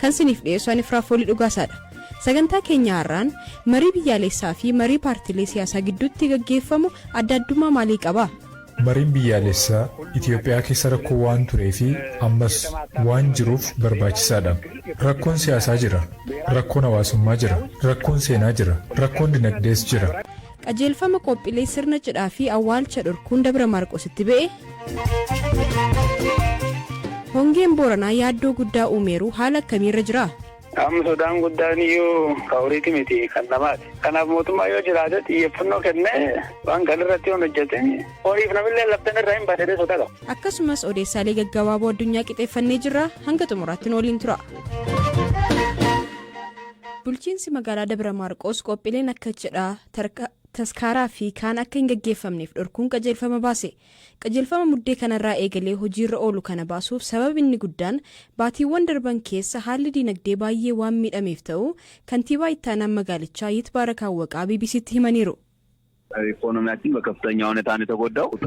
Kan siniif dhiyeessu ani Firaafoolii Dhugaasaadha. Sagantaa keenya har'aan marii biyyaaleessaa fi marii paartilee siyaasaa gidduutti gaggeeffamu adda addummaa maalii qaba? Mariin biyyaalessaa Itiyoophiyaa keessa rakkoo waan turee fi ammas waan jiruuf barbaachisaadha. Rakkoon siyaasaa jira, rakkoon hawaasummaa jira, rakkoon seenaa jira, rakkoon dinagdees jira. Qajeelfama qophilee sirna cidhaa fi awwaalcha dhorkuun Dabra Maarqositti ba'e. Hongeen Booranaa yaaddoo guddaa uumeeru haala akkamiirra jira? Amma sodaan guddaan iyyuu kan horiiti miti kan namaati. Kanaaf mootummaa yoo jiraate xiyyeeffannoo kennee waan kan irratti yoo hojjete horiif namillee labdan irraa hin baasee sodaa qaba. Akkasumas odeessaalee gaggabaaboo addunyaa qixeeffannee jirra hanga xumuraatti nu waliin tura. Bulchiinsi magaalaa Dabra Maarqoos qophiileen akka cidhaa, tarka, taskaaraa fi kaan akka hin gaggeeffamneef dhorkuun qajeelfama baase. Qajeelfama Muddee kanarraa eegalee hojiirra oolu kana baasuuf sabab inni guddaan baatiiwwan darban keessa haalli diinagdee baayyee waan miidhameef ta'uu Kantiibaa Ittaanaan magaalichaa Yitbaarak Awwaqaa BBC'tti himaniiru.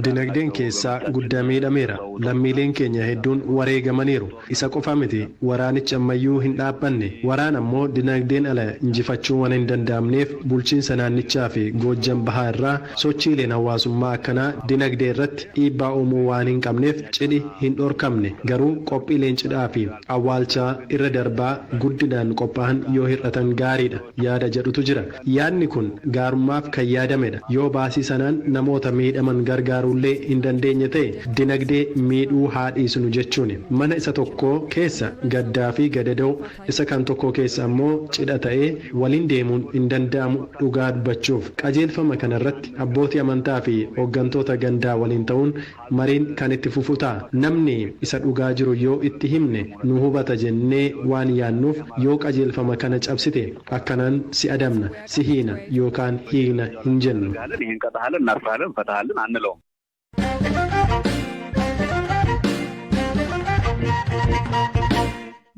Dinagdeen keessaa gudda miidhameera. Lammiileen keenya hedduun wareegamaniiru. Isa qofa miti waraanichi ammayyuu hin dhaabbanne. Waraana immoo dinagdeen ala injifachuun waan hin danda'amneef bulchiinsa naannichaa fi Goojjam Bahaa irraa sochiileen hawaasummaa akkanaa dinagdee irratti dhiibbaa uumuu waan hin qabneef cidhi hin dhorkamne. Garuu qophiileen cidhaa fi awwaalchaa irra darbaa guddinaan qophaahan yoo hir'atan gaariidha. yaada jedhutu jira. Yaadni kun gaarummaaf kan yaadamedha. Yoo baasii sanaan namoota miidhaman gargaaruullee hin dandeenye ta'e dinagdee miidhuu haa dhiisnu jechuuni. Mana isa tokkoo keessa gaddaafi gadadoo, isa kan tokkoo keessa ammoo cidha ta'ee waliin deemuun hin danda'amu dhugaa dubbachuuf. Qajeelfama kanarratti abbootii amantaafi hoggantoota gandaa waliin ta'uun Mariin kan itti fufu ta'a. Namni isa dhugaa jiru yoo itti himne nu hubata jennee waan yaannuuf yoo qajeelfama kana cabsite akkanaan si adabna, si hiina yookaan hiikna hin jennu.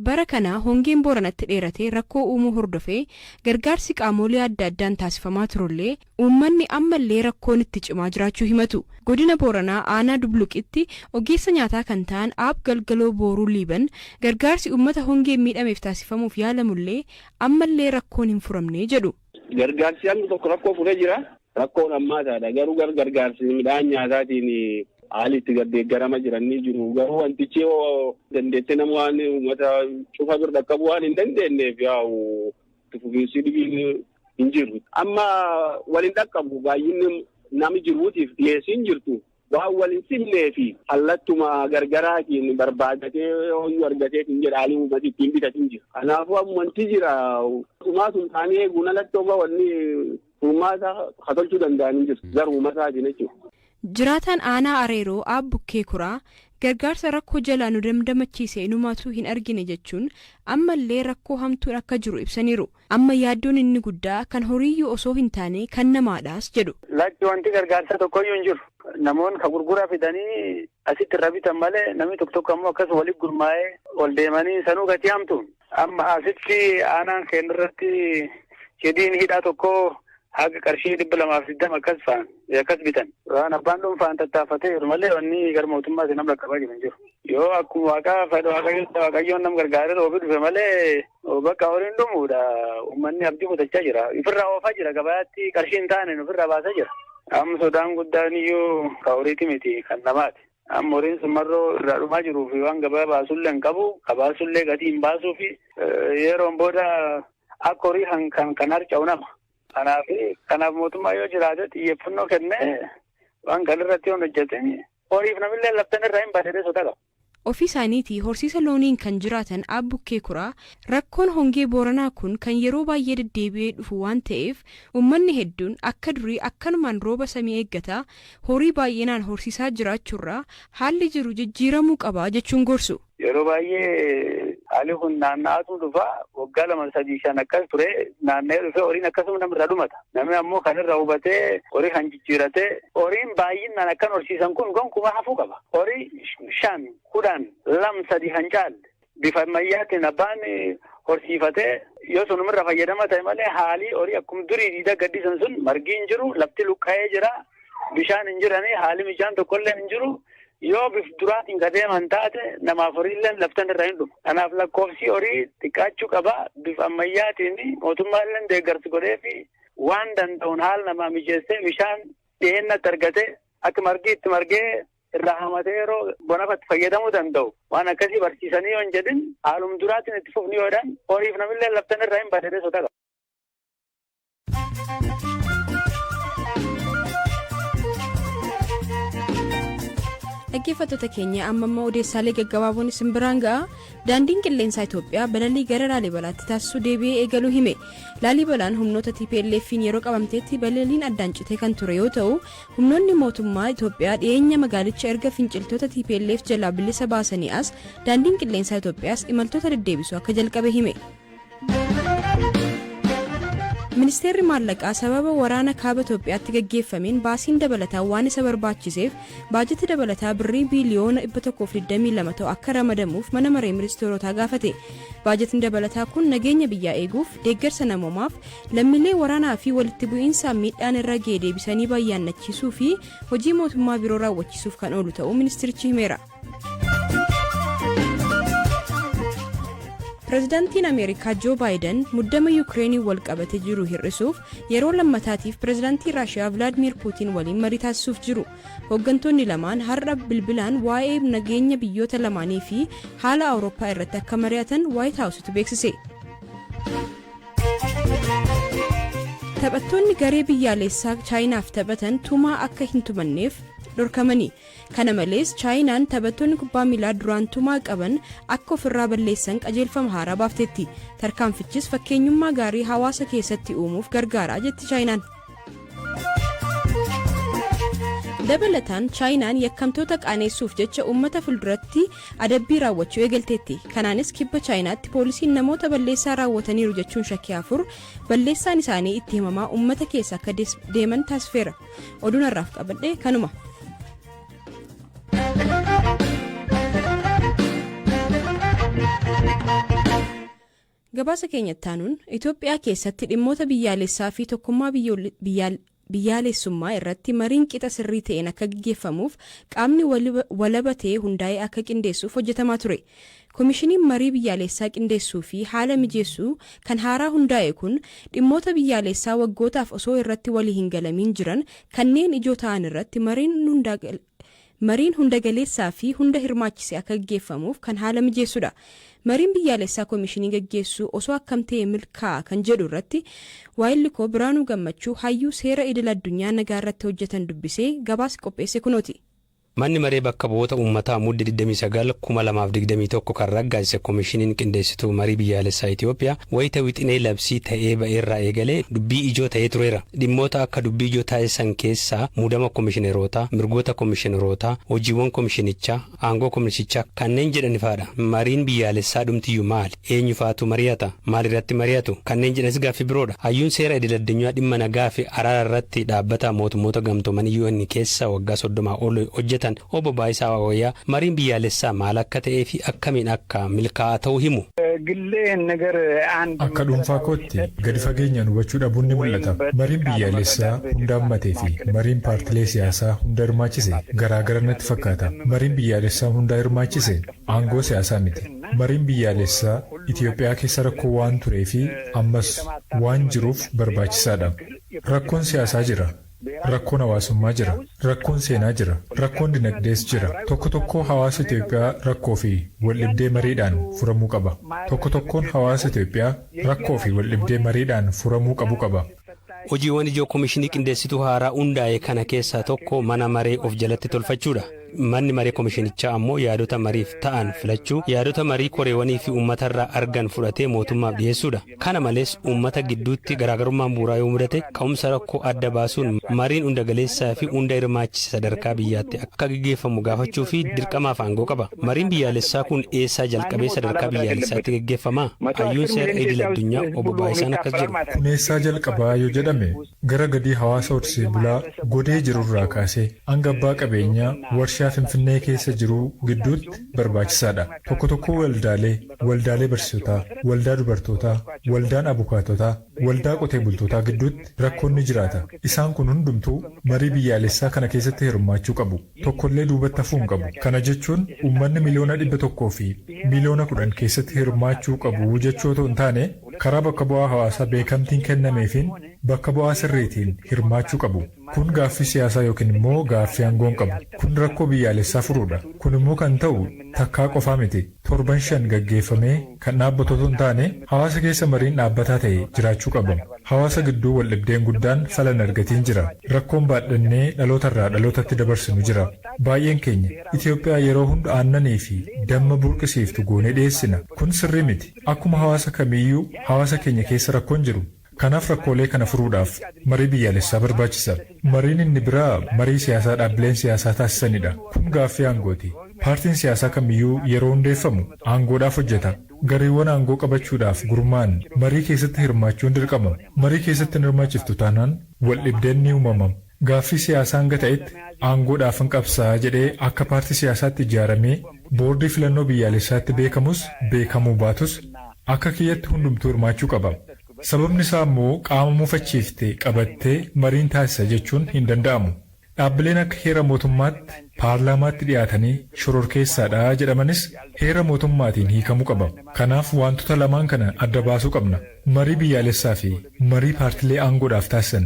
Bara kana hongeen Booranatti dheeratee rakkoo uumuu hordofee gargaarsi qaamoolee adda addaan taasifamaa turullee Uummanni ammallee rakkoon itti cimaa jiraachuu himatu. Godina Booranaa aanaa Dubluqitti ogeessa nyaataa kan ta'an Aab Galgaloo Booruu Liiban gargaarsi uummata hongeen miidhameef taasifamuuf yaalamullee ammallee rakkoon hin furamne jedhu. Gargaarsi hangi tokko rakkoo furee jira. Rakkoon hammaataadha. Garuu gara gargaarsi midhaan nyaataatiin haali itti gardeeggarama jiran ni jiru. Garuu wantichi yoo dandeetti nama waan uummata cufa bira dhaqqabu waan hin dandeenyeef yaa'u itti fufiinsi dhibiin hin jirru. Amma waliin dhaqqabu baay'inni nami jiruutiif dhiyeessiin jirtu waan waliin simnee fi hallattuma gargaraatiin barbaadatee hooyyuu argatee hin jedha haalli uummati ittiin bitatiin jira. Kanaafuu ammanti jira. Tumaa tumtaanii eeguun alatti oga wanni uumaa isaa ka tolchuu danda'an hin jiru. Gara uumaa isaatiin jechuudha. Jiraataan aanaa Areeroo Aab Bukkee Kuraa gargaarsa rakkoo jalaa nu damdamachiise inumaatu hin argine jechuun ammallee rakkoo hamtuun akka jiru ibsaniiru. Amma yaaddoon inni guddaa kan horiiyyuu osoo hin taane kan namaadhaas jedhu. Lakki wanti gargaarsaa tokkoyyuu hin jiru. Namoonni ka gurguraa fidanii Asitti irra bitan malee namni tokko tokko ammoo akkas walitti gurmaa'ee ol deemanii sanuu gatii hamtu. Amma asitti aanaan keenya irratti hidhiin hidhaa tokko haga qarshii dhibba lamaa fi digdama akkas fa'an akkas bitan. Waan abbaan dhuunfaan tattaafatee jiru malee wanni gara mootummaatti nama qaqqabaa jiru hin jiru. Yoo akkuma waaqaa fedha waaqayyoon nam gargaaree roobi dhufe malee Bakka horiin dhumuudha. Uummanni abdii kutachaa jira. Ofirraa oofaa jira. Gabaatti qarshii hin taane ofirraa baasaa jira. Amma sodaan guddaan iyyuu kan horiiti miti kan namaati. Amma horiin sun marroo irraa dhumaa jiruu fi waan gabaa baasullee hin qabu. Kabaasullee gatii hin baasuu fi yeroon booda akka horii kan kan harca'u nama. Kanaaf kanaaf mootummaa yoo jiraate xiyyeeffannoo kennee waan kan irratti yoo hojjete horiif namillee laftan irraa hin baadhee sodaa qaba. Ofii isaaniitii horsiisa looniin kan jiraatan Aab Bukkee Kuraa, rakkoon hongee Booranaa kun kan yeroo baay'ee deddeebi'ee dhufu waan ta'eef ummanni hedduun akka durii akkanumaan rooba samii eeggataa horii baay'inaan horsiisaa jiraachuurraa haalli jiru jijjiiramuu qaba jechuun gorsu. Yeroo baay'ee haalli kun naanna'aatu dhufa. Waggaa lama, sadii, shan akkas turee naanna'ee dhufee horiin akkasuma namarraa dhumata. Namni ammoo kan irra hubatee horii kan jijjiirate horiin baay'inaan akkan horsiisan kun gonkumaa hafuu qaba. Horii shan, kudhan, lam, sadi kan caalle bifa ammayyaatiin abbaan horsiifatee yoo sunumirra fayyadama ta'e malee haalii horii akkuma durii diidaa gaddisan sun margii hin jiru, lafti luqqa'ee jira, bishaan hin jiranii, haalli mijaan tokkollee hin jiru. Yoo bif duraatiin ka deeman taate namaaf horiilleen laftan irra hin dhumu. Kanaaf lakkoofsii horii xiqqaachuu qaba. Bif ammayyaatiin mootummaalleen deeggarsi godhee fi waan danda'uun haala namaa mijeessee bishaan dhiheenyatti argate akka margi itti margee irraa hamatee yeroo bonafatti fayyadamuu danda'u. Waan akkasii barsiisanii yoo hin jedhin haalum duraatiin itti fufni yoo jedhan horiif namillee laftan irra hin badee sodaa qaba. dhaggeeffattoota keenya amma immoo odeessaalee gaggabaaboon isin biraan ga'a daandiin qilleensaa itoophiyaa balalii gara laalibalaatti taasisuu deebi'ee eegaluu hime laalibalaan humnoota tplf'n yeroo qabamteetti balaliin addaan citee kan ture yoo ta'u humnoonni mootummaa itoophiyaa dhiyeenya magaalicha erga finciltoota tplf jalaa bilisa baasanii as daandiin qilleensaa itoophiyaas imaltoota deddeebisuu akka jalqabe hime Ministeerri maallaqaa sababa waraana kaaba Itoophiyaatti gaggeeffameen baasiin dabalataa waan isa barbaachiseef baajata dabalataa birrii biiliyoona 122 ta'u akka ramadamuuf mana maree ministeerotaa gaafate. Baajatni dabalataa kun nageenya biyyaa eeguuf, deeggarsa namoomaaf, lammiilee waraanaa fi walitti bu'iinsaan miidhaan irra ga'e deebisanii bayyaannachiisuu fi hojii mootummaa biroo raawwachiisuuf kan oolu ta'uu ministeerichi himeera. Pireezidaantiin Ameerikaa Joo Baayiden muddama Yukireeniin wal qabatee jiru hir'isuuf yeroo lammataatiif pireezidaantii Raashiyaa Vilaadmiir Puutiin waliin marii taasisuuf jiru. Hooggantoonni lamaan har'a bilbilaan waa'ee nageenya biyyoota lamaanii fi haala Awurooppaa irratti akka mari'atan Waayit Haawusitu beeksise. Taphattoonni garee biyyaalessaa Chaayinaaf taphatan tumaa akka hin tumanneef dhorkamanii Kana malees Chaayinaan taphattoonni kubbaa miilaa duraan tumaa qaban akka ofirraa balleessan qajeelfama haaraa baafteetti. Tarkaanfichis fakkeenyummaa gaarii hawaasa keessatti uumuuf gargaara jetti Chaayinaan. Dabalataan Chaayinaan yakkamtoota qaaneessuuf jecha uummata fulduratti adabbii raawwachuu eegalteetti. Kanaanis kibba Chaayinaatti poolisiin namoota balleessaa raawwataniiru jechuun shakkii afur balleessaan isaanii itti himamaa uummata keessa akka deeman taasifeera. Oduun har'aaf qabadhe kanuma. Gabaasa keenya ittaanuun Itoophiyaa keessatti dhimmoota biyyaalessaa fi tokkummaa biyyaalessummaa irratti mariin qixa sirrii ta'een akka gaggeeffamuuf qaamni walaba ta'e hundaa'ee akka qindeessuuf hojjetamaa ture. Komishiniin marii biyyaaleessaa qindeessuu fi haala mijeessu kan haaraa hundaa'e kun dhimmoota biyyaaleessaa waggootaaf osoo irratti walii hin galamiin jiran kanneen ijoo ta'an irratti mariin hunda galeessaa fi hunda hirmaachise akka gaggeeffamuuf kan haala mijeessu dha. Mariin biyyaaleessaa komishinii gaggeessuu osoo akkam ta'e milkaa'a kan jedhu irratti waayilli koo Biraanuu Gammachuu hayyuu seera idil addunyaa nagaa irratti hojjetan dubbisee gabaasi qopheesse kunooti. Manni Maree Bakka Bu'oota Ummataa Mudde 29, 2021 kan raggaasise Komishiniin Qindeessituu Marii Biyyaalessaa Itiyoophiyaa wayita wixinee labsii ta'ee ba'erraa eegalee dubbii ijoo ta'ee tureera. Dhimmoota akka dubbii ijoo taasisan keessaa muudama komishinerootaa, mirgoota komishinerootaa, hojiiwwan komishinichaa, aangoo komisichaa kanneen jedhanifaadha. Mariin biyyaalessaa dhumtiyyu maali? Eenyu faatu mariyata? Maal irratti mariyatu? Kanneen jedhanis gaaffii biroo dha. Hayyuun seera idil addunyaa dhimma nagaa fi araara irratti dhaabbata mootummoota gamtoomanii UN keessa waggaa 30 ol hojjetan Obbo Baayisaa Waaqwayyaa mariin biyyaalessaa maal akka ta'ee fi akkamiin akka milkaa'aa ta'u himu. Akka dhuunfaa kootti gadi fageenyaan hubachuu dhabuun ni mul'ata. Mariin biyyaalessaa hunda hammatee fi mariin paartilee siyaasaa hunda hirmaachise garaagara natti fakkaata. Mariin biyyaalessaa hundaa hirmaachise aangoo siyaasaa miti. Mariin biyyaalessaa Itiyoophiyaa keessa rakkoo waan turee fi ammas waan jiruuf barbaachisaa dha. Rakkoon siyaasaa jira, rakkoon hawaasummaa jira, rakkoon seenaa jira, rakkoon dinagdees jira. Tokko tokkoo hawaasa Itiyoophiyaa rakkoo fi waldhibdee mariidhaan furamuu qaba. Tokko tokkoon hawaasa Itiyoophiyaa rakkoo fi waldhibdee mariidhaan furamuu qabu qaba. Hojiiwwan ijoo Komishinii Qindeessituu haaraa hundaa'e kana keessaa tokko mana maree of jalatti tolfachuudha. Manni maree komishinichaa ammoo yaadota mariif ta'an filachuu, yaadota marii koreewanii fi uummatarraa argan fudhatee mootummaaf dhiyeessuudha. Kana malees uummata gidduutti garaagarummaan bu'uuraa yoo mudate ka'umsa rakkoo adda baasuun mariin hundagaleessaa fi hunda hirmaachise sadarkaa biyyaatti akka akka geggeeffamu gaafachuu fi dirqamaaf aangoo qaba. Mariin biyyaalessaa kun eessaa jalqabee sadarkaa biyyaalessaatti geggeeffamaa? Hayyuun seera idil addunyaa Obbo Baayisaan akkas jedhu. Kun eessaa jalqabaa yoo jedhame gara gadii hawaasa horsee bulaa Godee jiru irraa kaasee hanga abbaa qabeenyaa warshaa Finfinnee keessa jiruu gidduutti barbaachisaadha. Tokko tokkoo waldaalee, waldaalee barsiisotaa, waldaa dubartootaa, waldaan abukaatotaa, Waldaa qotee bultootaa gidduutti rakkoon ni jiraata. Isaan kun hundumtuu marii biyyaalessaa kana keessatti hirmaachuu qabu. Tokkollee duubatti hafuu hin qabu. Kana jechuun uummanni miliyoona dhibba tokkoo fi miliyoona kudhan keessatti hirmaachuu qabu jechuu otoo hin taane, karaa bakka bu'aa hawaasaa beekamtiin kennameefiin bakka bu'aa sirriitiin hirmaachuu qabu. Kun gaaffii siyaasaa yookiin immoo gaaffii aangoo hin qabu. Kun rakkoo biyyaalessaa furuudha. Kun immoo kan ta'u takkaa qofaa miti. Torban shan gaggeeffamee kan dhaabbatu otoo hin taane hawaasa keessa mariin dhaabbataa ta'e jiraachuu qaba. Hawaasa gidduu waldhibdeen guddaan fala hin argatiin jira. Rakkoon baadhannee dhaloota irraa dhalootatti dabarsinu jira. Baay'een keenya Itoophiyaa yeroo hunda aannanii fi damma burqisiiftu goonee dhiyeessina. Kun sirrii miti. Akkuma hawaasa kamiiyyuu hawaasa keenya keessa rakkoon jiru. Kanaaf rakkoolee kana furuudhaaf marii biyyaalessaa barbaachisa. Mariin inni biraa marii siyaasaa dhaabbileen siyaasaa taasisanidha. Kun gaaffii aangooti. Paartiin siyaasaa kamiyyuu yeroo hundeeffamu aangoodhaaf hojjeta. Gareewwan aangoo qabachuudhaaf gurmaa'an marii keessatti hirmaachuun dirqama. Marii keessatti hin hirmaachiftu taanaan waldhibdeen ni uumama. Gaaffii siyaasaa hanga ta'etti aangoodhaafan qabsaa'a jedhee akka paartii siyaasaatti ijaaramee boordii filannoo biyyaalessaatti beekamus beekamuu baatus akka kiyyatti hundumtuu hirmaachuu qaba. Sababni isaa ammoo qaama mufachiifte qabattee mariin taasisa jechuun hin danda'amu. Dhaabbileen akka heera mootummaatti paarlaamaatti dhiyaatanii shororkeessaadha jedhamanis heera mootummaatiin hiikamuu qaba. Kanaaf waantota lamaan kana adda baasuu qabna. Marii biyyaalessaafi marii paartilee aangoodhaaf taasisan.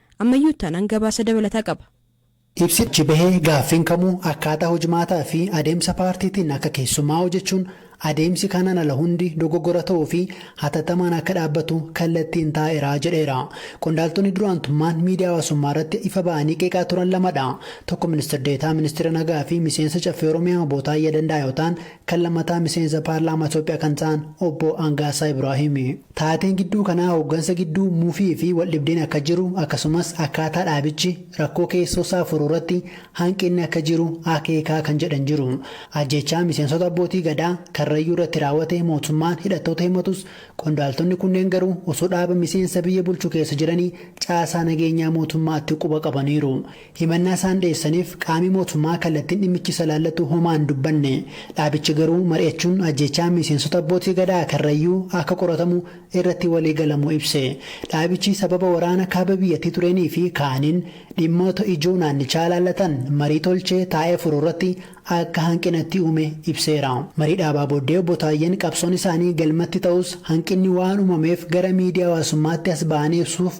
Ammayyuu ittaanaan gabaasa dabalataa qaba. Ibsichi bahe gaaffiin kamuu akkaataa hojmaataa fi adeemsa paartiitiin akka keessummaa'u jechuun adeemsi kanaan ala hundi dogoggora ta'uu fi hatattamaan akka dhaabbatu kallattiin taa'eera jedheera. Qondaaltonni duraantummaan miidiyaa hawaasummaa irratti ifa ba'anii qeeqaa turan lama dha. Tokko Ministir Deetaa Ministeera Nagaa fi Miseensa Caffee Oromiyaa Obbo Taayyaa Danda'aa yoo ta'an, kan lammataa Miseensa Paarlaamaa Itoophiyaa kan ta'an Obbo Angaasaa Ibraahimi. Taateen gidduu kanaa hooggansa gidduu mufii fi waldhibdeen akka jiru akkasumas akkaataa dhaabichi rakkoo keessoosaa furuurratti hanqinni akka jiru akeeka kan jedhan jiru. Ajjeechaa miseensota Abbootii Gadaa Karrayyuurratti raawwate mootummaan hidhattoota himatus qondaaltonni kunneen garuu osoo dhaaba miseensa biyya bulchu keessa jiranii caasaa nageenyaa mootummaatti quba qabaniiru. Himannaa isaan dhiyeessaniif qaami mootummaa kallattiin dhimmichi isa ilaallatu homaa hin dubbanne. Dhaabichi garuu mari'achuun ajjeechaan miseensota Abbootii Gadaa Karrayyuu akka qoratamu irratti walii galamuu ibse. Dhaabichi sababa waraana kaaba biyyattii tureenii fi kaaniin dhimmoota ijoo naannichaa ilaallatan marii tolchee taa'ee furu irratti akka hanqina itti uume ibseera. Marii dhaabaa booddee Obbo Taayyeen qabsoon isaanii galmatti ta'us hanqinni waan uumameef gara miidiyaa hawaasummaatti as ba'anii ibsuuf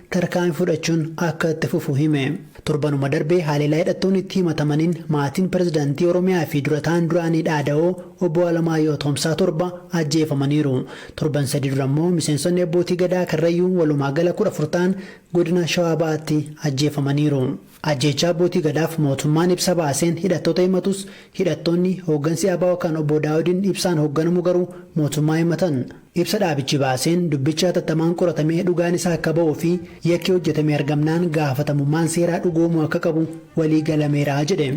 tarkaanfii fudhachuun akka itti fufu hime. Torbanuma darbe haleellaa hidhattoonni itti himatamaniin maatiin pirezidantii Oromiyaa fi dura ta'aan duraanii dhaada'oo Obbo Alamaayyoo Atoomsaa torba ajjeefamaniiru. Torban sadii dura immoo miseensonni Abbootii Gadaa Karrayyuu walumaa gala 14 ta'an godina Shawaa Bahaatti ajjeefamaniiru. Ajjeechaa Abbootii Gadaaf mootummaan ibsa baaseen hidhattoota himatus, hidhattoonni hooggansi abo kan Obbo Daawudiin Ibsaan hoogganamu garuu mootummaa himatan. Ibsa dhaabichi baaseen dubbichi hatattamaan qoratamee dhugaan isaa akka ba'uu fi yakki hojjetame argamnaan gaafatamummaan seeraa dhugoomuu akka qabu walii galameera jedhe.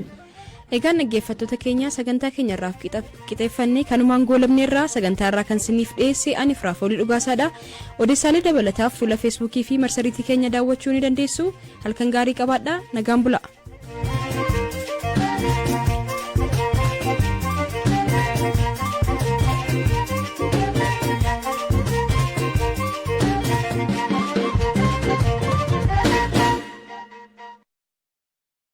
Egaan dhaggeeffattoota keenya sagantaa keenya irraaf qixeeffannee kanumaan goolabne irraa sagantaa irraa kan siniif dhiyeesse ani Firaafoolii Dhugaasaadha. Odeessaalee dabalataaf fuula Feesbuukii fi marsariitii keenya daawwachuu ni dandeessu. Halkan gaarii qabaadha. Nagaan bulaa.